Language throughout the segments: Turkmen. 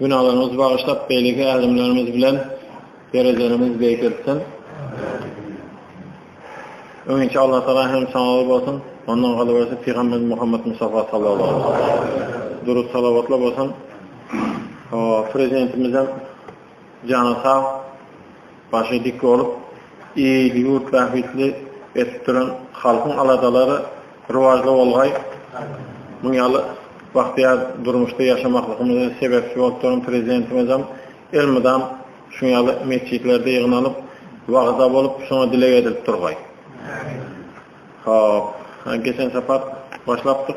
Günalarymyzy bagyşlap beýleki ädimlerimiz bilen derejelerimizi beýik etsin. Öňinçi Allah Taala hem sanawy bolsun. Ondan galyberse Pygamber Muhammed Mustafa sallallahu aleyhi ve sellem. Durut salavatla bolsun. O, prezidentimizem canı sağ. Başy dik bolup, il-ýurt bähbitli edip duran halkyň aladalary rowažly bolgaý, muň ýaly bagtyýar durmuşda ýaşamaklygymyza sebäpçi bolup duran Prezidentimizem elmydam şuň ýaly metjitlerde ýygnanyp, wagyzda bolup, şoňa dileg edilip durgaý. Hop, geçen sapar başlapdyk.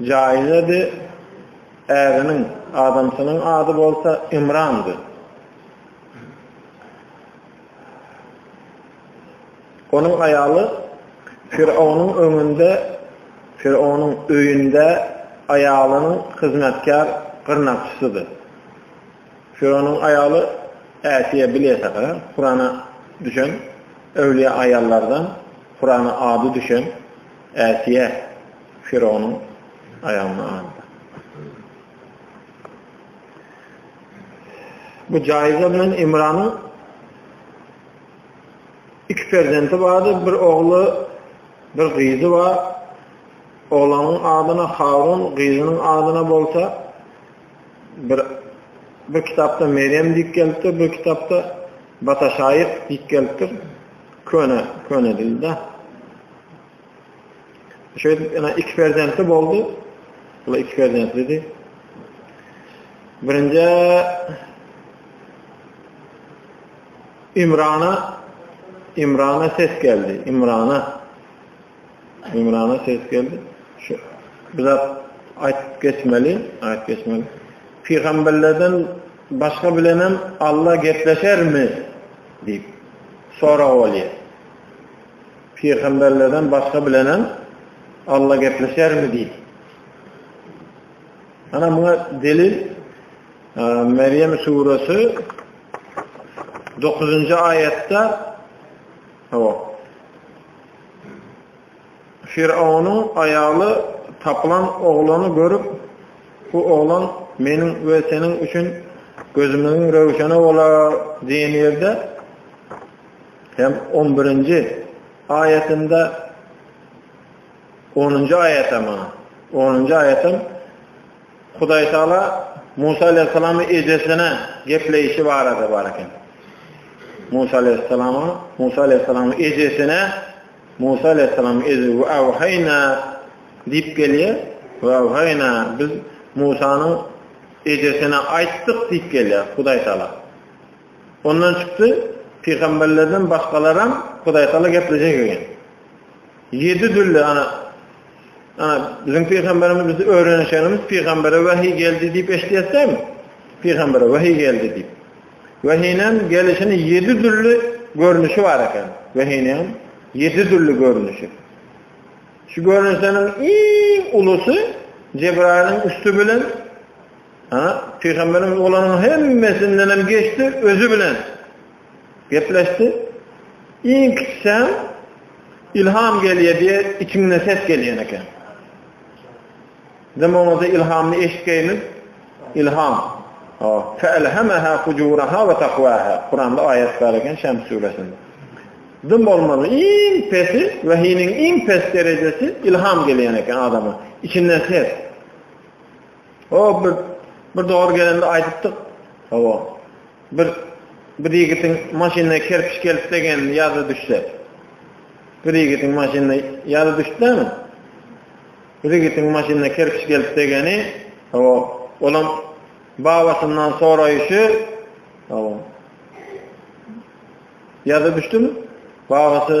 Jaýyň ady äriniň, adamsynyň ady bolsa Ymrandy. Onuň aýaly Firawnyň öňünde, Firawnyň öýünde aýalynyň hyzmatkär gyrnakçysydy. Firawnyň aýaly Äsiýa bileýsek, Kurana düşen öwlüýä aýallardan, Kurana ady düşen. Äsiýä Firawnyň aýagyna aldy. Bu Jaýza bilen Imranyň iki perzenti bardy, bir ogly, bir gyzy bar. Oglanyň adyna Harun, gyzynyň adyna bolsa bir bir kitapda Meryem diýip gelipdir, bir kitapda Bata şaýyk diýip gelipdir. Köne, köne dilde. Şeýdip, ene iki perzentli boldy. Bula iki perzentlidi. Birinji İmrana İmrana ses geldi. İmrana Ümrana ses geldi. Şu bir zat aýtyp geçmeli, aýt geçmeli. Pygamberlerden başga bilen hem Alla gepleşermi? diýip sorag bolýar. Pygamberlerden başga bilen hem Alla gepleşermi diýip. Ana muňa delil Meryem suresi 9-njy aýatda Hawa. Firawunyň aýaly tapylan oglany görüp, Bu oglan meniň we seniň üçin gözümiziň röwşeni bolar diýen ýerde hem on birinji aýatynda onunjy aýatam, onunjy aýatam Hudaýtagala Musa alaýhyssalamy ejesine gepleýşi barada bar eken. Musa alaýhyssalama, Musa alaýhyssalamyň ejesine, Musa alaýhyssalamyň ejesi we awhaýna diýip gelýär. We awhaýna biz Musanyň ejesine aýtdyk diýip gelýär Hudaýtagala. Ondan çykdy, pygamberlerden başgalaram Hudaýtagala geplejek eken. Ýedi dürli, ana, ana, biziň pygamberimiz bizi öwrenişenimiz pygambere wähi geldi diýip eşidýäs dämi? Pygambere wähi geldi diýip. Wähiniň gelişini ýedi dürli görnüşi bar eken. Wähiniň ýedi dürli görnüşi. Şu görnüşleriň iň ulusy Cebrailiň üsti bilen ana pygamberiň olaryň hemmesinden hem geçdi özi bilen. Gepleşdi. Iň kiçisem Ilham gelýär diýe içiňden ses gelýän eken. Dem oňa-da Ilhamny eşitgeýin. Ilham. O, fa'alhamaha fujuraha wa taqwaha. Kuranda aýat bar eken Şems suresinde. Dem bolmaly. Iň pesi we hiniň iň pes derejesi Ilham gelýän eken adama. İçinden ses. O bir bir dogry gelende aýdypdyk. Hawa. Bir bir ýigitiň maşynyna kerpiç gelip degenini ýada düşse. Bir ýigitiň maşynyna ýada düşdümi? Bir ýigitiň maşynyna kerpiç gelip degeni, hawa, olam babasyndan soraýşy, hawa. Ýada düşdümi? Babasy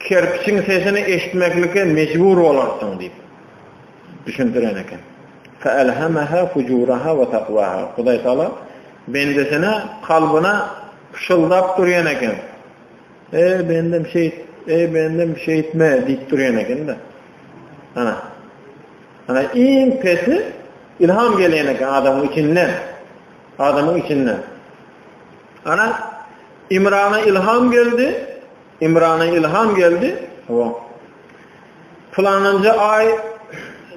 Kerpiçiň sesini eşitmeklike mejbur bolarsyň diýip, düşündiren eken. Feelhamaha fujuraha we takwaha. Hudaý Taala bendesine kalbyna pyşyldap durýan eken. Eý bendem şeýt, eý bendem şeýtme diýip durýan eken-de. Ana. Ana iň pesi ilham gelýän eken adamyň içinden. Adamyň içinden. Ana Imrana ilham geldi. Imrana ylham geldi, o, Pylanynja aý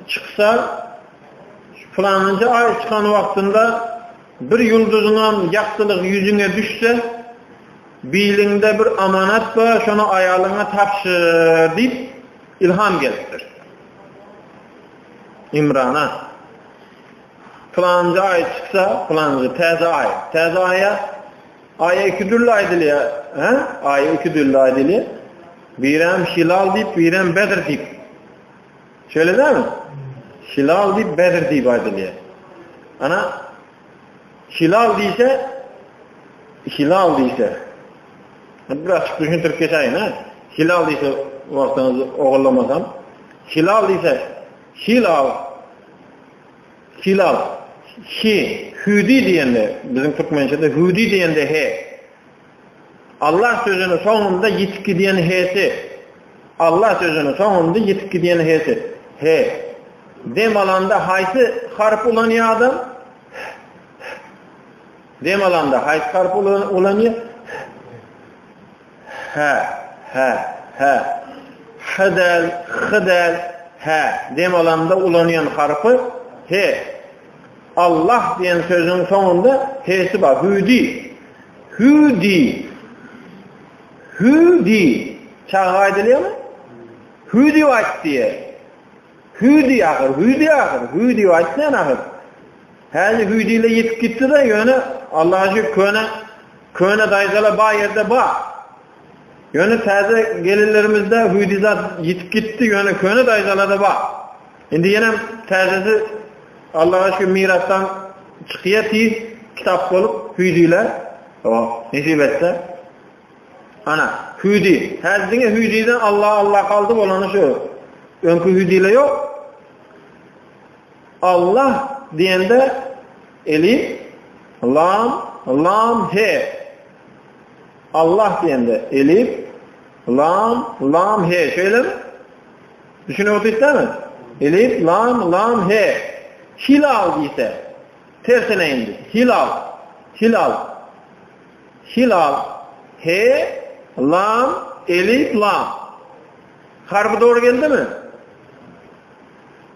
çyksa, pylanynja aý çykan wagtynda bir ýulduzyňam ýagtylygy ýüzüňe düşse, biliňde bir amanat bar, şony aýalyňa tabşyr diýip ylham gelipdir. Imrana Pylanynja aý çyksa, pylanynja täze aý, täze aýa Aýa iki dürli aýdylýar. Hä? Aýa iki dürli aýdylýar. Birem hilal diýip, birem bedr diýip. Şöyle dämi? Hilal diýip, bedr diýip aýdylýar. Ana hilal diýse hilal diýse. Biraz düşündirip geçäýin, hä? Hilal diýse wagtyňyzy ogullamasam. Hilal diýse hilal Hilal, Hi, hüdi diýende, biziň türkmençede hüdi diýende he. Allah sözüniň soňunda ýitip gidýän he-si. Allah sözüniň soňunda ýitip gidýän he-si. He. Dem alanda haýsy harp ulanýar adam? Dem alanda haýsy harp ulanýar? Hä, hä, hä. H däl, h däl, hä. Dem alanda ulanýan harpy he. Allah diýen sözüň soňunda hesi bar. Hüdi. Hüdi. Hüdi. Çaga aýdylýarmy? Hüdi aýt diýer. Hüdi ahyr, hüdi ahyr, hüdi aýtmaýan ahyr. Häli hüýdile ýetip gitdi-de, ýöne Allaha şükür köne köne daýzala bar ýerde bar. Ýöne täze gelinlerimizde hüýdi zat ýetip gitdi, ýöne köne daýzalada bar. Indi ýenem täzesi Allaha şükür mirasdan çykýar tiz kitap bolup hüýdile. O, nesip etse. Ana, hüýdi. Häli diňe hüýdiden Allah Allah galdy bolany şu. Öňki hüýdile ýok. Allah diýende elif, lam, lam, he. Allah diýende elif, lam, lam, he. Şeýlemi? Düşünip otyrsyňyzmy? Elif, lam, lam, he. Hilal diýse, tersine indi. Hilal, hilal. Hilal, he, lam, elif, lam. Harby dogry geldimi?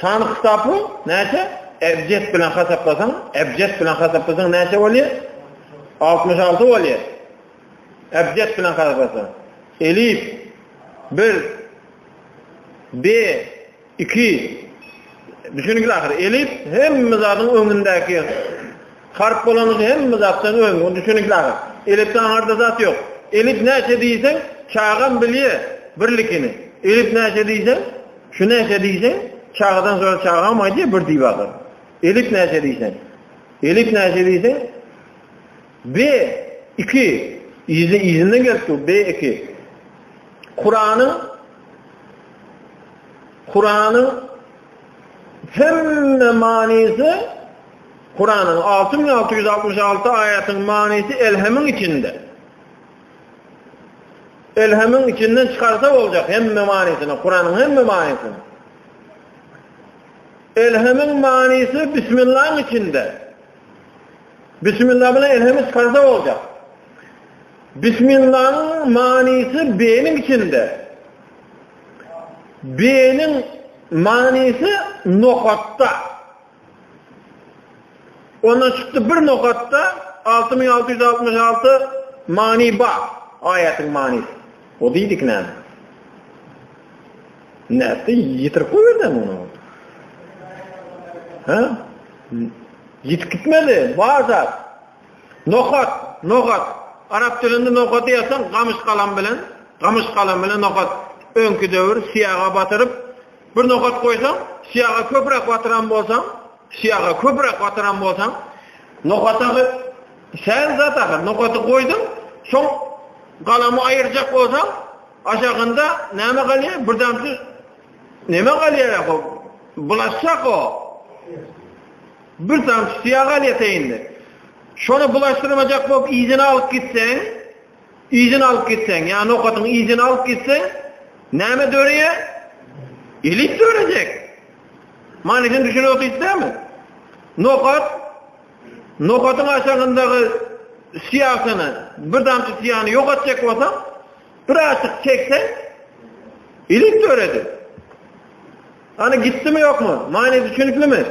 Sany kitapy näçe? Ebjet bilen hasaplasaň, ebjet bilen hasaplasaň näçe bolýar? 66 bolýar. Ebjet bilen hasaplasaň. Elif 1 B 2 Düşünikli ahyr. Elif hemme zadyň öňündäki Harp bolanyny hemme zatdan öň, ony düşüniňiz aga. Elipde aňarda zat ýok. Elip näçe diýseň, çagam bilýär birlikini. Elip näçe diýseň, şu näçe diýseň, çagadan soň çagam aýdýar bir diýip agar. Elip näçe diýseň. Elip näçe diýseň? B 2 izi izinden gelip dur B 2. Kuranyň Kuranyň hemme manysy Kuranyň alty müň alty ýüz altmyş alty aýatynyň manysy elhemiň içinde. Elhemiň içinden çykarsa boljak hemme manysyny, Kuranyň hemme manysyny. Elhemiň manysy bismillahyň içinde. Bismillah bilen elhemi çykarsa boljak. Bismillahyň manysy beýniň içinde. Beýniň manysy nokatda. Ondan çykdy bir nokatda 6666 many bar. Aýatyň manysy. O diýdik näme? Näde ýitirip goýberdi muny? Ha? Ýitip gitmedi, baza. Nokat, nokat. Arap dilinde nokat ýasan gamyş galam bilen, gamyş galam bilen nokat. Öňki döwür siýaga batyryp, Bir nokat goýsaň, syýaga köpräk batyran bolsaň, syýaga köpräk batyran bolsaň, nokata säl zat ahyr, nokaty goýduň, soň galamy aýyrjak bolsaň, aşagynda näme galýar? Bir damjy näme galýar o? Bulaşjak o. Bir damjy syýa galýar teýinde. Şony bulaşdyrmajak bolup, yzyna alyp gitseň, Yzyny alyp gitseň, ýa nokatyň yzyny alyp gitseň, näme döreýär? Elit dörejek. Manysyny düşünip otyrsyňmy? Nokat, nokatyň aşagyndaky syýasyny, bir damja syýany ýogatjak bolsaň, bir aşyk çekseň, elit döredi. Ana gitdimi ýokmy? Many düşüniklimi?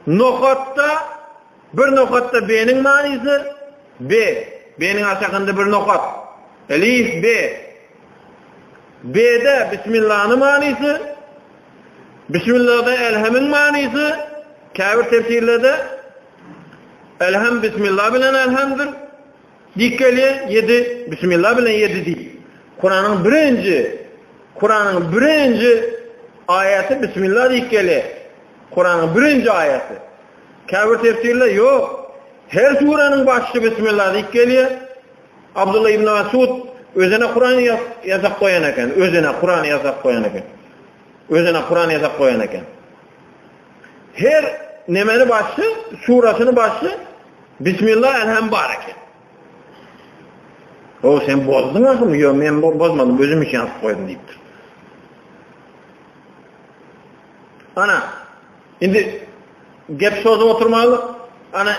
Nokatda Bir nokatda B-niň manysy, be, B-niň aşagynda bir nokat. Elif, be. B-de Bismillany manysy, Bismillada Elhemiň manysy, käbir tefsirlerde Elhem Bismillah bilen Elhemdir. Dikeli 7 Bismillah bilen 7 diýip. Kuranyň birinji Kuranyň birinji aýaty Bismillah dikeli. Kuranyň birinji aýaty. Käbir tefsirler ýok, her suräniň başy Bismillah diýip gelýär. Abdullah ibn Masud özüne Kuran ýazak goýan eken, özüne Kuran ýazak goýan eken. Özüne Kuran ýazak goýan eken. Her nemeni başy, surasyny başy Bismillah elhem bar eken. O sen bozduň ahymy? Ýok, men bozmadym, özüm üçin ýazyp goýdum diýipdir. Ana, Indi gep şoda oturmalyk. Ana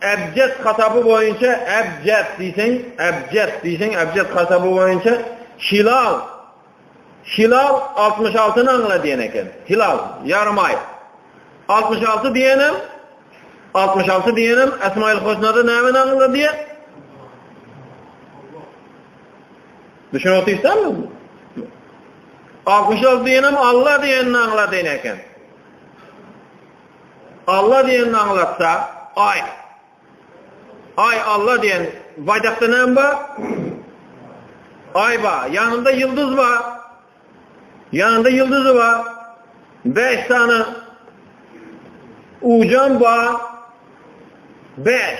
Ebjet hasaby boýunça Ebjet diýseň, Ebjet diýseň, Ebjet hasaby boýunça Hilal. Hilal 66 nyň aňla diýen eken. Hilal ýarym aý. 66 diýenem 66 diýenem Esmaýyl Hosnada näme aňla diýe? Düşünip otyrsanmyzy? Altmyş alty diýenem Alla diýenini aňladýan eken. Alla diýenini aňlatsa, aý. Aý Alla diýen baýdakda näme bar? Aý bar, ýanynda ýyldyz bar. Ýanynda ýyldyzy bar. 5 sany ujan bar. 5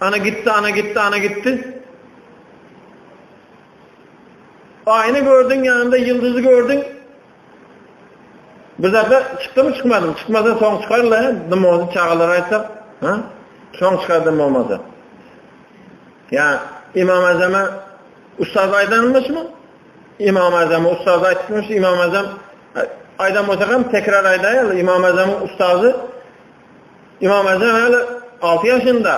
Ana gitdi, ana gitdi, ana gitdi. Aýny gördüň, ýanynda ýyldyzy gördüň. Bir zada çykdymy çykmadymy? Çykmasa soň çykar la, nym oldy çagalara aýtsak, ha? Soň çykardym bolmasa. Ya İmam Azam'a ustaz aydanmış mı? İmam Azam'a ustaz aytmış, İmam Azam aydan olsa hem tekrar aydayalı. İmam Azam'ın ustazı Ymam Azan häli alty ýaşynda,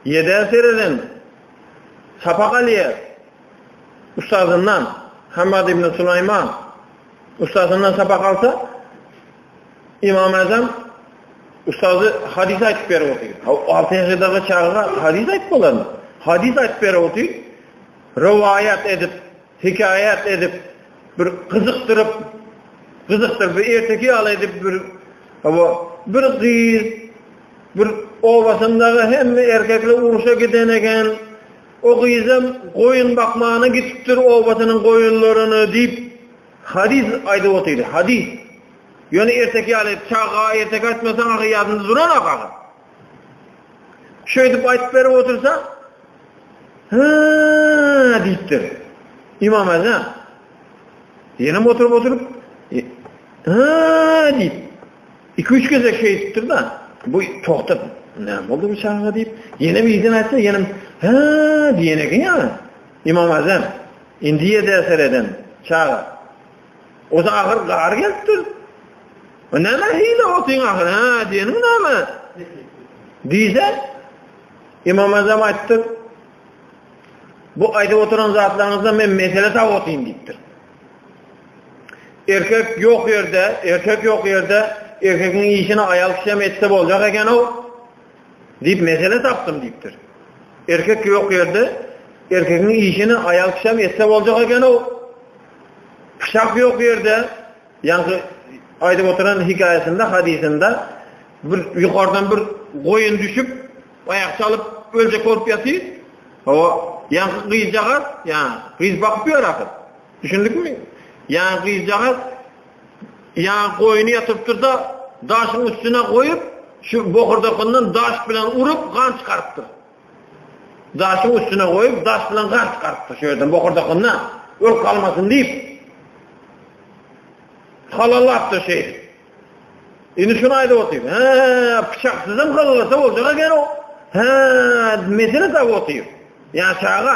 ýedä sereden sapak alýar ussatyndan, Hammad ibn Sulaýman ussatyndan sapak alsa, Ymam Azan ussaty hadys aýdyp berip otyr. Alty ýaşydaky çaga hadys aýdyp bolarmy? Hadys aýdyp berip otyr, rowaýat edip Hekaýat edip bir gyzykdyryp gyzykdyryp bir erteki ýaly edip bir bu bir gyz bir obasyndaky hemme erkekler uruşa giden eken o gyzam goýun bakmana gitipdir obasynyň goýunlaryny diýip hadis aýdyp otyrdy hadis ýöne erteki ýaly çaga erteki aýtmasaň ahy ýadynda duran ahy Şeýdip aýdyp berip otursa, ha diýipdir. Imam Azam. Ýene oturyp oturyp, ha diýip. Iki-üç gezek şeýdipdir da, bu togtap, ne boldy bu çaga diýip, ýene bir ýerden aýtsa, ýene ha diýene eken ýa. Imam Azam. Indi ýerde sereden çaga. Oda agyr gar gelipdir. O näme hile otyň agyr ha diýeniň näme? Diýse İmam Azam aýtdy. Bu aýdyp oturan zatlaryňyzda men mesele tap otyn diýipdir. Erkek ýok ýerde, erkek ýok ýerde erkegiň işini aýal kişi hem etse boljak eken o. Diýip mesele tapdym diýipdir. Erkek ýok ýerde erkegiň işini aýal kişi hem etse boljak eken o. Pyçak ýok ýerde, ýaňky aýdyp oturan hikaýasynda, hadysynda bir ýokardan bir goýun düşüp, aýak çalyp öljek bolup ýatyr. O ýaňky gyzjagaz, ýaňy gyz bakyp ýör ahyr. Düşündikmi? Ýaňy gyzjagaz ýaňy goýuny ýatyrypdyr-da, daşyň üstüne goýup, şu bokurdakyndan daş bilen urup, gan çykarypdyr. Daşyň üstüne goýup, daş bilen gark garkdy şu ýerden bokurdakyna, ürk almasyn diýip. Halalap döşeýdi. Indi şunu aýdyp otyr. He, pyçaksyzam halalasa boljak eken o. He, mesele tap otyr. Ýa çaga,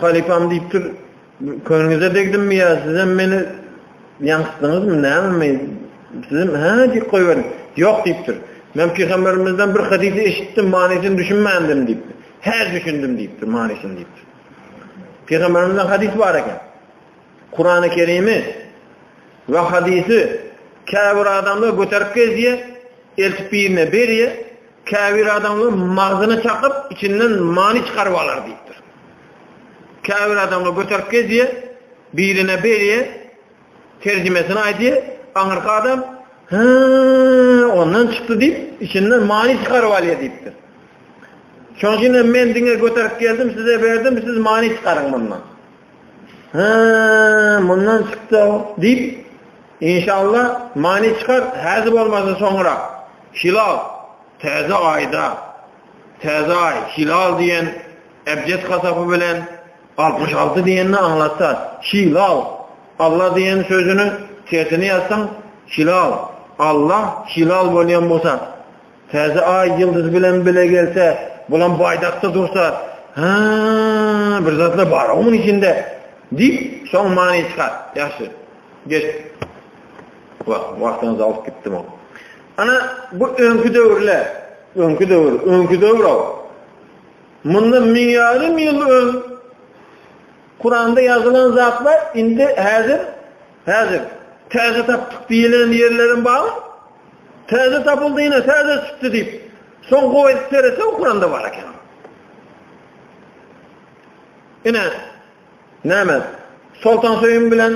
Halypam diýipdir, Köňlüňize degdimmi ýa sizem meni ýaňsytdyňyzmy, nämemi? Sizem hä diýip goýberiň. Ýok diýipdir. Men pygamberimizden bir hadysy eşitdim, manysyny düşünmändim diýipdir. Hä düşündim diýipdir, manysyny diýipdir. Pygamberimizden hadys bar eken. Kurany Kerimi we hadysy käbir adamlar göterip gezýär, eltip birine berýär. Käbir adamlar magzyny çakyp, içinden many çykaryp alar diýipdir. Käbir adamlar göterip gezýär, birine berýär, terjimesini aýdýar, aňyrky adam Hä, ondan çykdy diýip, içinden many çykaryp alýar diýipdir. Şonuň üçin men diňe göterip geldim, size berdim, siz many çykaryň mundan. Hä, mundan çyksa, diýip, inşallah, many çykar, häzir bolmasa soňra. Hilal, täze aýda, täze aý, hilal diýen ebjet hasapy bilen altmyş alty diýenini aňlatsar. Hilal, Alla diýen sözüni tersine ýazsaň, hilal, Allah hilal bolýan bolsa, Täze aý ýyldyzy bilen bile gelse, bulam baýdakda dursa, Hä, bir zatlar bar-a onuň içinde, diýip, şoň many çykar. Ýagşy. Geç. Wah, wagtyňyzy alyp gitdim. Ana, bu öňki döwürler, öňki döwür, öňki döwür o. Munda min ýarym ýyl öň Kuranda ýazylan zatlar indi häzir, häzir täze tapdyk diýilen ýerleriň bar. Täze tapyldy ine, täze çykdy diýip, soň gowy edip seretse okuran-da bar eken. Ine, näme? Soltan Söýün bilen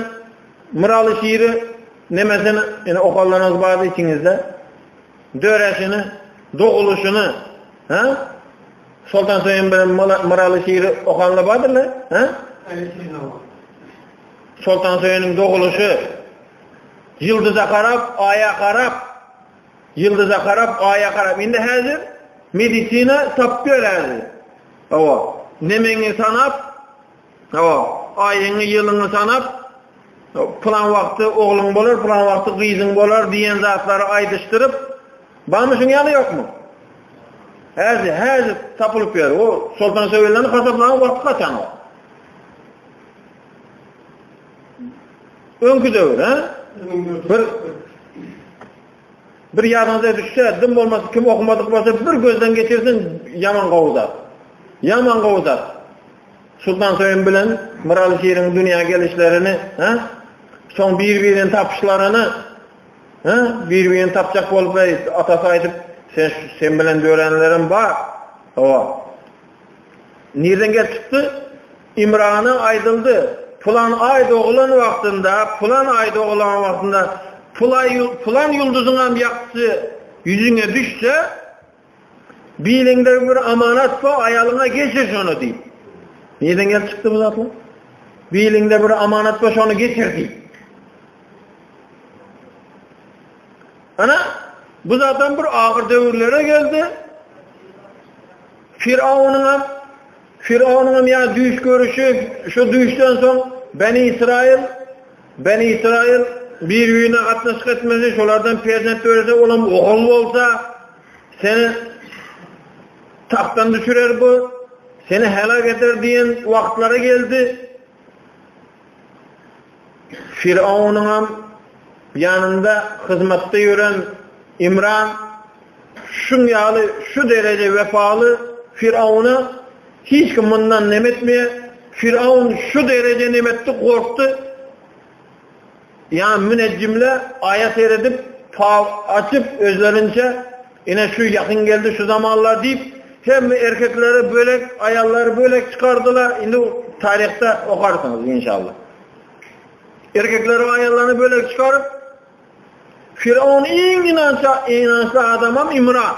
Myraly şiiri nemesini, ine okalanyňyz bardy içiňizde. Döreşini, doguluşyny, ha? Soltan Söýün bilen Myraly şiiri okanlar bardylar, ha? Soltan Söýüniň doguluşy, Ýyldyza garap, Aýa garap, Ýyldyza garap, Aýa garap. Indi häzir medisina tapýar häzir. Hawa, nemeňi sanap, hawa, aýyňy, ýylyňy sanap, plan wagty ogluň bolar, plan wagty gyzyň bolar diýen zatlary aýdyşdyryp, barmy şuň ýaly ýokmy? Häzi, häzi tapylyp ýör. O Soltan Söýünden hasaplanan wagty gaçan o. Öňki döwür, ha? Bir bir ýadyňyza düşse, dim bolmasy kim okumadyk bolsa, bir gözden geçirsin, ýaman gowda. Ýaman gowda. Sultan Söýün bilen Myraly Şirin dünýä gelişlerini, ha? Soň bir-birini tapyşlaryny, ha? Bir-birini tapjak bolup, atasy aýdyp, sen sen bilen dörenlerim bar. Hawa. Nirden gelip çykdy? Imrana aýdyldy, Pylan aý dogulan wagtynda, pylan aý dogulan wagtynda pylan ýulduzyňam ýagtysy ýüzüňe düşse, biliňde bir amanat bar, aýalyňa geçir şony diýip. Nirden gelip çykdy bu zatlar? Biliňde bir amanat bar, şony geçir diýip. Ana, bu zatdan bir agyr döwürlere geldi. Firawunyň Firawnyňam ýa düýş görüşi, şu düýşden soň Beni Ysraýyl, Beni Ysraýyl, bir-birine gatnaşyk etmesi, şolardan perzent dörese, olam ogul bolsa, seni tagtdan düşürer bu, seni helag eder diýen wagtlary geldi. Firaunyňam ýanynda hyzmatda ýören Imran şuň ýaly şu dereje wepaly Firauna hiç kim mundan nem etmeýär. Firaun şu dereje nem etdi, gorkdy. Ýa münejjimle aýa seredip, pal açyp özlerinçe Ine şu ýakyn geldi şu zamanlar diýip, hemme erkekleri bölek, aýallary bölek çykardylar. Indi taryhda okarsyňyz inşallah. Erkekleri we aýallaryny bölek çykaryp, Firavun iň inançly, inançly adamam Imran.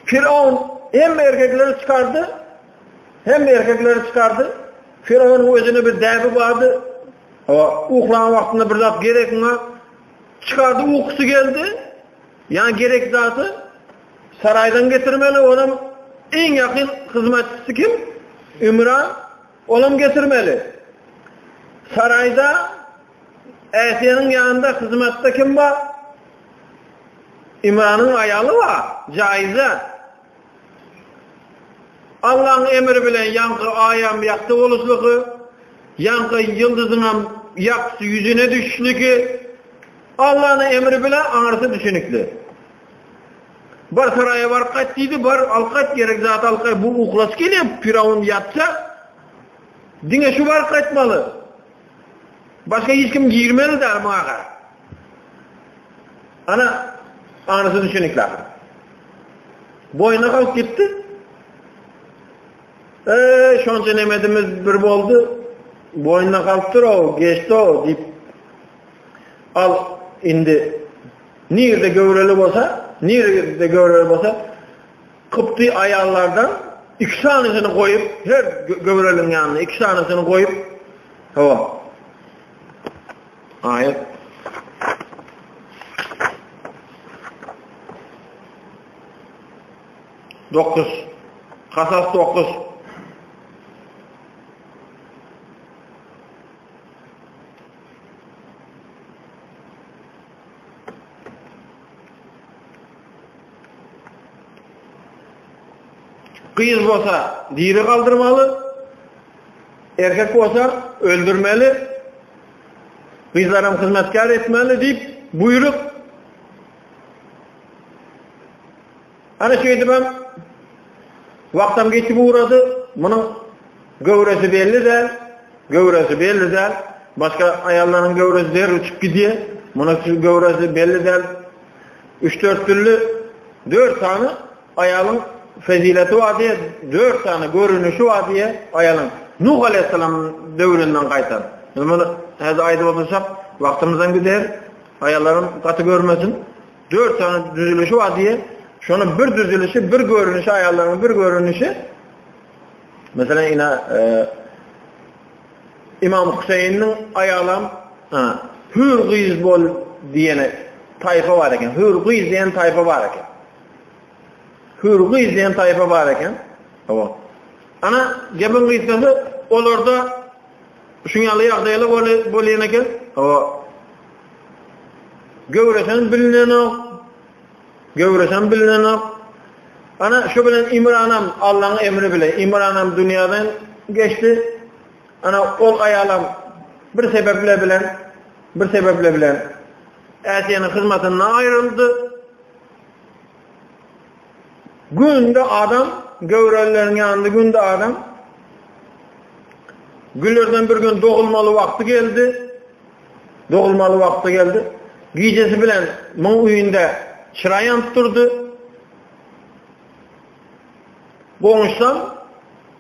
Firavun hem erkekleri çıkardı, hem erkekleri çıkardı. Firavunun özüne bir derdi vardı. Uhlan vaktinde bir zat gerekine Çykardy ukusy geldi. Ýa gerek zady saraýdan getirmeli onam iň ýakyn hyzmatçysy kim? Ümra onam getirmeli. Saraýda Äsiýanyň ýanynda hyzmatda kim bar? Ümranyň aýaly bar. Jaýyza. Allaň emri bilen ýaňky aýam ýagty boluşlygy, ýaňky ýyldyzyňam ýagty ýüzüne düşüşligi Allanyň emri bilen aňyrsy düşenikli. Bar saraýa baryp gaýt diýdi, bar al gaýt gerek zat al gaýt. Bu uklus gelýär, Firawun ýatsa diňe şu baryp gaýtmaly. Başga hiç kim girmeli däl maňa. Ana, anasy düşünikli ahyr. Boýuna galyp gitdi. Eee, şonça nemedimiz bir boldy. Boýuna galypdyr o, geçdi o diýip. Al, indi nirde göwreli bolsa, nirde göwreli bolsa, Kıpty ayallardan iki tanesini koyup, her gövrelin yanına iki tanesini koyup, hava, Aýat Dokuz. Kasas dokuz. Gyz bolsa diri galdyrmaly, Erkek bolsa öldürmeli, gyzlaram hyzmatkär etmeli diýip buýrup, Ana şeýdibem wagtam geçip ugrady, munuň göwresi belli däl, göwresi belli däl, başga aýallaryň göwresi der uçup gidýär, munuň göwresi belli däl. Üç-dört dürli, dört sany Aýalyň fezileti bar diýip, dört sany görünişi bar diýip, aýalyň Nuh aleýhissalam döwründen gaýtam. Biz muny häzir aýdyp otursak, wagtymyzam gider. Aýallaryň gaty görmesin. Dört sany düzülişi bar diýip, şonuň bir düzülişi, bir görünişi aýallaryň bir görünişi. Meselem, ina e, Imam Hüseyniň aýalam hür gyz bol diýene taýfa bar eken. Hür gyz diýen taýfa bar eken. Hür gyz diýen taýpa bar eken. Hawa. Ana, gepiň gysgasy, olarda şuň ýaly ýagdaýlar bolýan eken. Hawa. Göwresen bilinenok. Göwresen bilinenok. Ana şu bilen Imranam Allah'ın emri bile Imranam dünyadan geçti. Ana ol ayalam bir sebeple bilen bir sebeple bilen Asiye'nin hizmetinden ayrıldı. Günde adam göwrelileriň ýanynda günde adam Güllerden bir gün dogulmaly wagty geldi. Dogulmaly wagty geldi. Gijesi bilen muň öýünde çyra ýanyp durdy. Goňşudan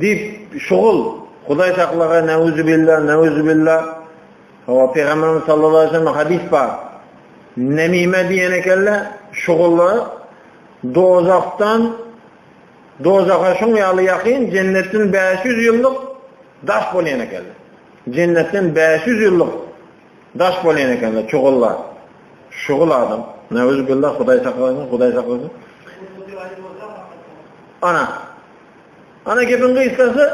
Diýip, şugul, Hudaý saklaga, näuzubillah, näuzubillah. Hawa, Pygamberimiz sallallahu aleýhi we sellem hadys bar. Nemime diýen ekenle, şugula dozahdan dozaha şuň ýaly ýakyn jennetden 500 ýyllyk daş bolýan ekenler. Jennetden 500 ýyllyk daş bolýan ekenler çugullar. Şugul adam. Näuzubillah, Hudaý saklasyn, Hudaý saklasyn. Ana, Ana gepiň gysgasy,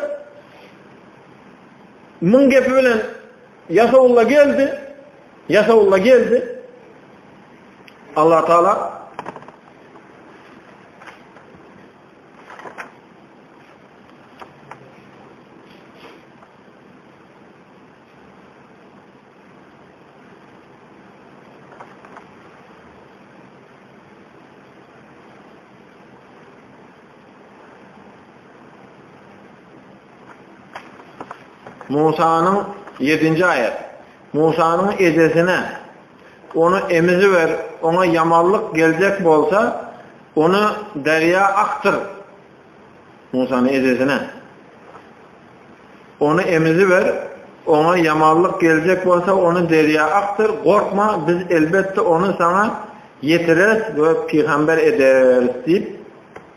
Muň gepi bilen Ýasawulla geldi, Ýasawulla geldi. Allah Taala Musanyň 7-nji aýat. Musanyň ejesine ony emiziber, oňa ýamanlyk geljek bolsa, ony derýa akdyr. Musanyň ejesine ony emiziber, oňa ýamanlyk geljek bolsa, ony derýa akdyr. Gorkma, biz elbetde ony saňa ýetireris we pygamber ederis diýip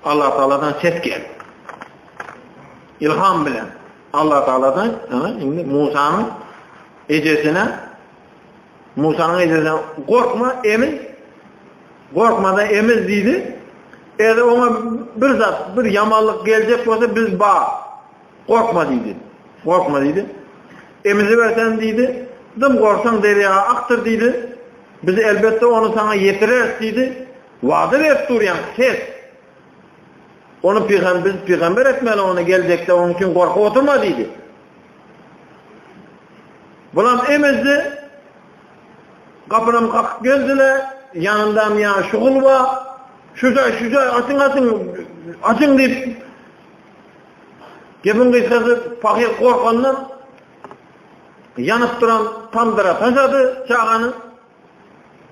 Allah Taaladan ses gel. İlham bilen Allah Taaladan indi Musanyň ejesine Musanyň ejesine gorkma emin gorkmada emin diýdi. Eger oňa bir zat, bir ýamanlyk geljek bolsa biz ba gorkma diýdi. Gorkma diýdi. Emizi bersen diýdi. Dym gorsan derýa akdyr diýdi. Biz elbetde onu sana ýetireris diýdi. Wada berip durýan ses Ony pygamber biz pygamber etmeli ony geljekde onuň üçin gorkup oturma diýdi. Bulam emezdi. Gapynam kakyp geldiler. Ýanyndam ýa şugul bar. Şuja şuja açyň açyň açyň diýip Gebin gysgasy pahyr gorkandan ýanyp duran tamdyra taşady çagany.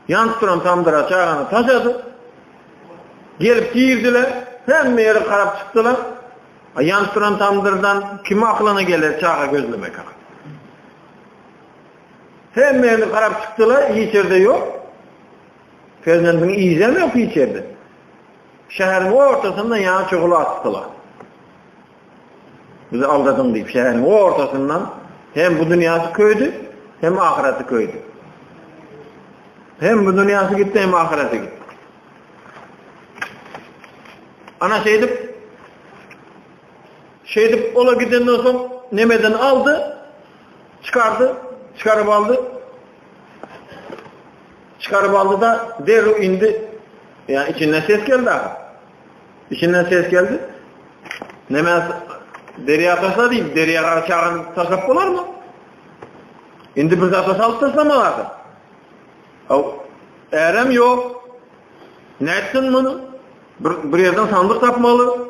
Ýanyp duran tamdyra çagany taşady. Gelip girdiler. Hemme ýere garap çykdylar. A ýanyp duran tamdyrdan kim aklyna geler çaga gözlemek hakda? Hemme ýere garap çykdylar, hiç ýerde ýok. Perzendiň iýzem ýok hiç ýerde. Şäheriň ortasynda ýa çuguly atdylar. Bizi aldadyň diýip, şäheriň ortasyndan hem bu dünýäsi köýdi, hem ahyreti köýdi. Hem bu dünýäsi gitdi, hem ahyreti gitdi. Ana şeýdip, şeýdip ola gidenden soň nemeden aldy, çykardy, çykaryp aldy. Çykaryp aldy da derrew indi, ýa içinden ses geldi. Içinden ses geldi. Neme derya taşla deyip, derya gara çağan taşlap bolar mı? Şimdi bir zata salıp taşlama vardı. Erem yok. Ne etsin bunu? Bir, bir yerden sandık tapmalı.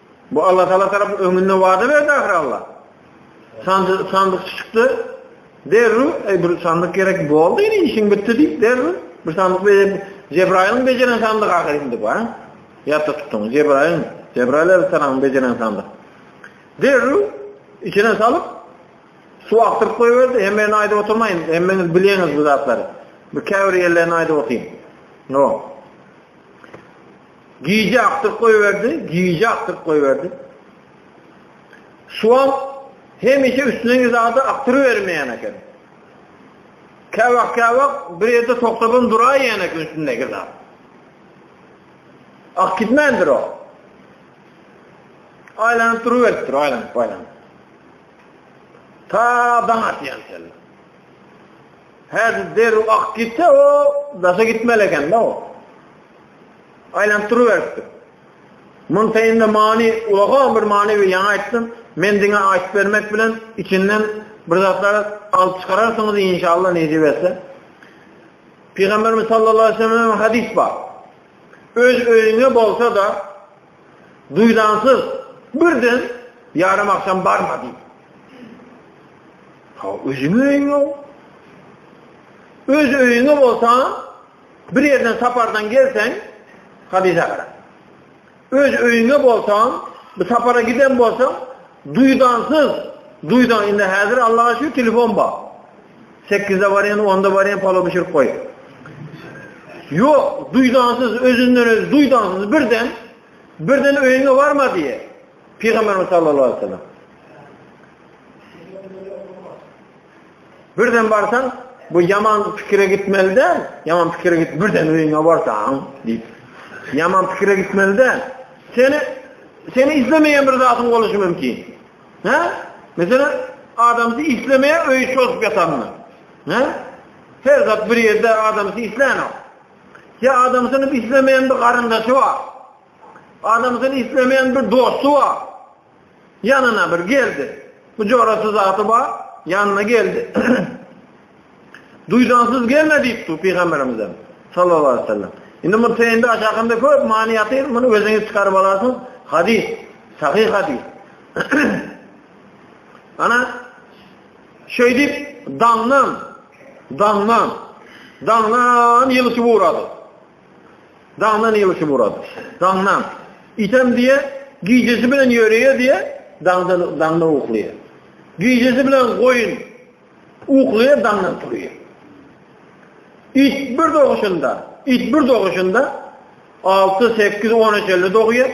Bu Allatagala tarap öňünde wada berdi ahyry Alla. Sandy, sandyk çykdy. Derru, ey bir sandyk gerek boldy, indi işin bitti diýip derru. Bir sandyk berip Cebrail'in beceren sandyk ahyry indi bu, ha? Ýatda tutduň, Cebrail, Cebrail aleyhissalam beceren sandyk. Derru içine salyp su akdyryp goýberdi, hemmäni aýdyp oturmaýyn, hemmäňiz bilýäňiz bu zatlary. Bir käbir ýerlerini aýdyp otyň. No. Gije akdyryp goýberdi, gije akdyryp goýberdi. Şu wagt hemişe üstündäki zady akdyrybermeýän eken. Käwagt käwagt bir ýerde togtabam duraýýan eken üstündäki zat. Ak gitmändir o. Aýlanyp duruberipdir, aýlanyp, aýlanyp. Ta daň atýan şeýle. Häzir derrew ak gitse o daşa gitmeli eken-de o. Aýlanyp duruberipdi. Muntaýynda many, ulagan bir many we ýaňy aýtdym, men diňe aýtyp bermek bilen içinden bir zatlar alyp çykararsyňyz inşallah nesip etse. Pygamberimiz sallallahu aleyhi ve sellem'den hadis bar. Öz öýüňe bolsa da duýdansyz birden yarım akşam barma diýip. Ha özüňe öýüňe. Öz öýüňe bolsa Bir ýerden sapardan gelseň, hadysa gara. Öz öýüňe bolsaň, bir sapara giden bolsaň, duýdansyz, duýdan indi häzir Allaha şu telefon bar. 8-de barýan, 10-da barýan palo bişirip goý. Ýok, duýdansyz, özünden öz duýdansyz birden birden öýüňe barma diýe. Pygamberimiz sallallahu aleyhi ve sellem. Birden barsaň, bu ýaman pikire gitmeli däl. Ýaman pikire git, birden öýüňe barsaň, diýip. Ýaman pikire gitmeli däl. Seni seni islemeýän bir zadyň boluşy mümkin. Hä? Mesela adamsy islemeýär öýi çozup ýatanmy? Hä? Her zat bir ýerde adamsy isleýär. Ya adamsyny islemeýän bir garyndaşy bar. Adamsyny islemeýän bir dosty bar. Ýanyna bir geldi. Bu jorasy zady bar, ýanyna geldi. Duýdansyz gelme diýip dur pygamberimizem sallallahu aleyhi ve sellem. Indi muny teýinde aşakynda köp many ýatyr, muny özüňiz çykaryp alarsyň. Hadis, sahih hadis. Ana şeýdip daňdan, daňdan, daňdan ýylşy ugrady. Daňdan ýylyşy Murad. Daňdan. Item diýe, gijesi bilen ýöreýe diýe, daňdan daňdan uklaýa. Gijesi bilen goýun uklaýa daňdan turýa. It bir doguşynda, it bir doguşynda 6, 8, 10 eşelli dogýa.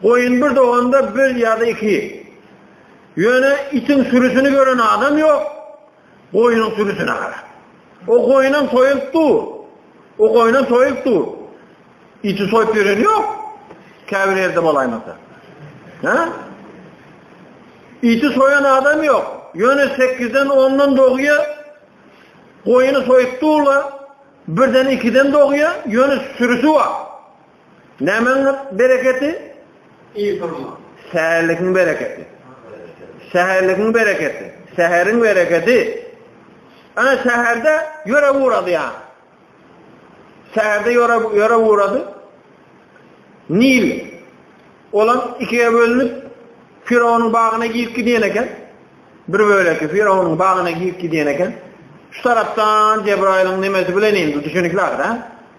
Goýun bir doganda bir ýa-da iki. Ýöne itiň sürüsini gören adam ýok. Goýnuň sürüsine gara. O goýnam soýulyp dur. O goýnam soýulyp dur. Iti soýup ýören ýok. Käbir ýerde bolaýmasa. Ha? Iti soýan adam ýok. Ýöne 8-den 10-dan dogýa goýny soýup durla, birden 2-den dogýa, ýöne sürüsi bar. Nämäň bereketi? Ýygrma. Säherligiň bereketi. Säherligiň bereketi. Säheriň bereketi. Ana säherde ýöre ugrady ýa. Säherde ýöre ýöre ugrady. Nil. Olam ikiye bölünip Firawonyň bagyna girip gidýän eken. Bir böleki Firawonyň bagyna girip gidýän eken. Şu tarapdan Cebraýylyň nemesi bilen indi düşünikler, ha?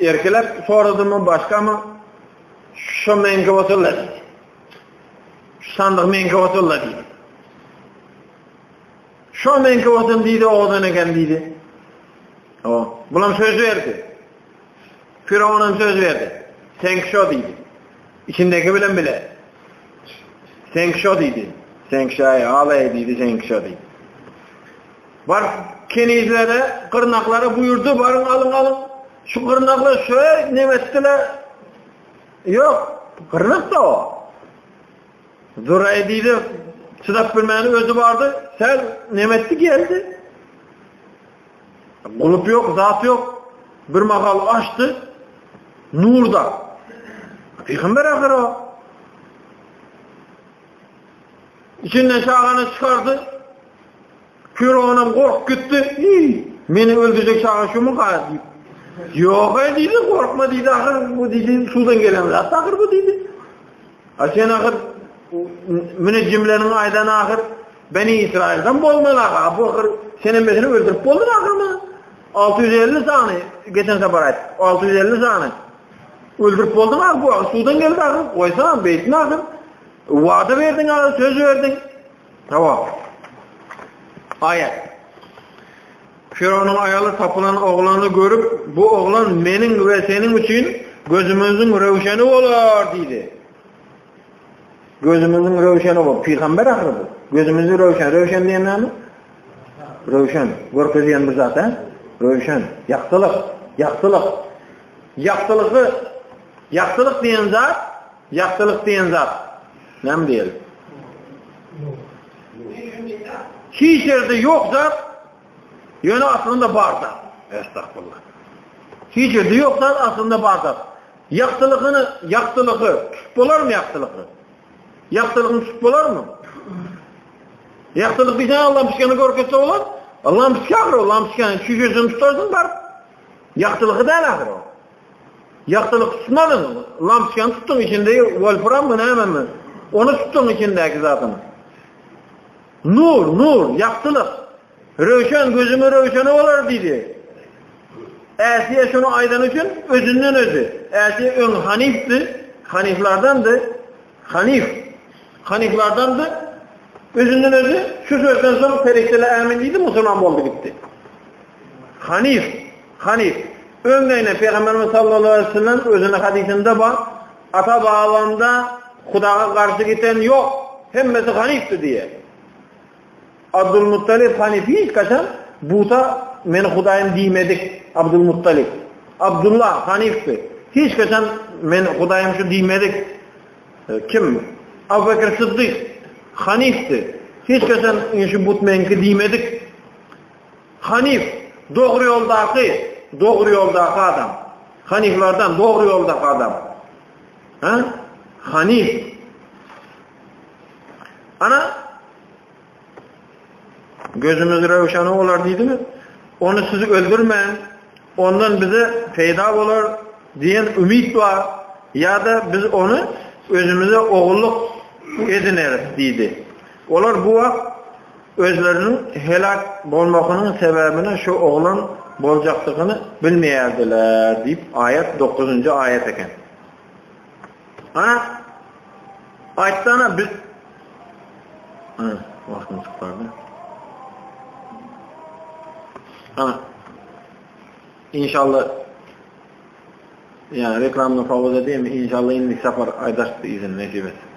Erkilep soradymy başgamy? Şu meňki bolsa-la diýdi. Şu sandyk meňki bolsa-la diýdi. Şu meňki bolsun diýdi, odan eken diýdi. O, bulam söz berdi. Firawunam söz berdi. Sen şu diýdi. İçindeki bilen bile. Sen şu diýdi. Sen şaýy alaý diýdi, sen şu diýdi. Bar, kenizlere, gyrnaklara buýurdy, baryň alyň, alyň. Şu gyrnaklar şöý nemetdiler. Ýok, gyrnak da o. Zuraý diýdi, çydap bilmäni özi bardy, sen nemetdi geldi. Gulup ýok, zat ýok. Bir mahal açdy, nurda. Peygamber ahir o. İçinden şaganı çıkardı, Pyronam gorkup gitdi. Iý, meni öldürjek çaga şumuka diýip. Ýog-a diýdi, gorkma diýdi, ahyr bu diýdi, suwdan gelen zat ahyr bu diýdi. A sen ahyr münejjimleriň aýdan ahyr Beni Israilden bolmaly aga. Bu ahyr sen emmesini öldürip boldun ahyrmy? 650 sany geçen sefer aýt. 650 sany. Öldürip boldun aga bu ahyr suwdan geldi ahyr. Goýsam beýtme ahyr. Wada berdiň aga söz berdiň. Jogap. Aýat. Firawunyň aýaly tapylan oglany görüp, bu oglan meniň we seniň üçin gözümiziň röwşeni bolar diýdi. Gözümiziň röwşeni bol, pygamber ahyry bu. Gözümizi röwşen, röwşen diýen näme? Röwşen, görkezýän bir zat, he? Röwşen, ýagtylyk, ýagtylyk. Ýagtylygy, ýagtylyk diýen zat Ýagtylyk diýen zat näme diýeli? Hiç ýerde ýok zat, ýöne aslynda bar zat. Estagfirullah. Hiç ýerde ýok zat, aslynda bar zat. Ýagtylygyny, ýagtylygy tutup bolarmy ýagtylygy? Ýagtylygyny tutup bolarmy? Ýagtylyk diýen Allahym pişgeni görkezse bolar. Allahym pişgeni, Allahym pişgeni çüýjüsini tutarsyň bar. Ýagtylygy däl ahyr o. Ýagtylyk tutmadyň, lampoçkany tutduň, içindäki wolframmy, nämemi, ony tutduň içindäki zadyny. Nur, nur, ýagtylyk. Röwşen, gözüňe röwşeni bolar diýdi. Äsiýe şuny aýdany üçin özünden özi. Äsiýe öň hanifdi, haniflardandy. Hanyf, hanyflardandy. Özünden özi şu sözden soň perişdeler ämin diýdi, musulman boldy gitdi. Hanyf, hanyf. Öňleýine Pygamberimiz sallallahu aleyhi ve sellem özüne hadisinde bar, ata babamda Hudaga garşy giten yok, hemmesi hanifti diye. Abdulmuttalip Hanefi ilkaşam buta Meni Hudaýym diýmedik. Abdulmuttalip. Abdulla Hanifdi. Hiç kaçan Men Hudaýym şu diýmedik. E, kim? Abu Bekir Siddik Hanifdi. Hiç kaçan şu but menki diýmedik. Hanif dogry ýoldaky, dogry ýoldaky adam. Haniflerden dogry ýoldaky adam. Ha? Hanif Ana gözümüz röwşen bolar diýdimi? Ony sizi öldürmän, ondan bize peýda bolar diýen umyt bar. Ýa-da biz ony özümize ogulluk edineris diýdi. Olar bu wagt özleriniň helak bolmagynyň sebäbini şu oglan boljakdygyny bilmeýärdiler diýip aýat 9-njy aýat eken. Ana, aýtsana biz... Ana, wagtym çykyp bardy. Ana, inşallah, yani reklamını favoz edeyim, inşallah indi sapar aydaştı izin, nesip etsin.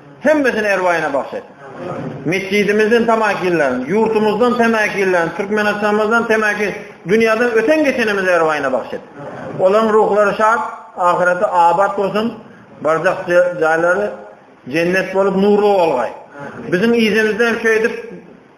Hemmesini erwaýyna bagş et. Mesjidimizden tamakinlerin, ýurtumyzdan tamakinlerin, Türkmenistanymyzdan tamakin, dünýäden öten geçenimiz erwaýyna bagş et. Olaryň ruhlary şat, ahyreti abat bolsun. Barzah jaýlary jennet bolup nurly bolgaý. Biziň ýerimizde hem şeýdip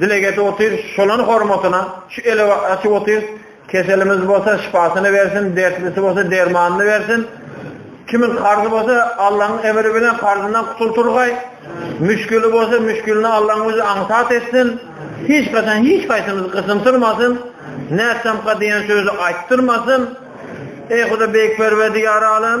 Dileg edip otyrys şolaň hormatyna, şu ele açyp otyrys, keselimiz bolsa şypasyny bersin, dertlisi bolsa dermanyny bersin. Kimiň karzy bolsa Allaň emri bilen karzyndan gutulturgaý. Müşgili bolsa müşgilini Allaň özi aňsat etsin. Hiç gaçan hiç kaýsymyzy gysymtyrmasyn. Nätsemka diýen sözi aýtdyrmasyn. Ey Huda beýik Perwerdigary alem,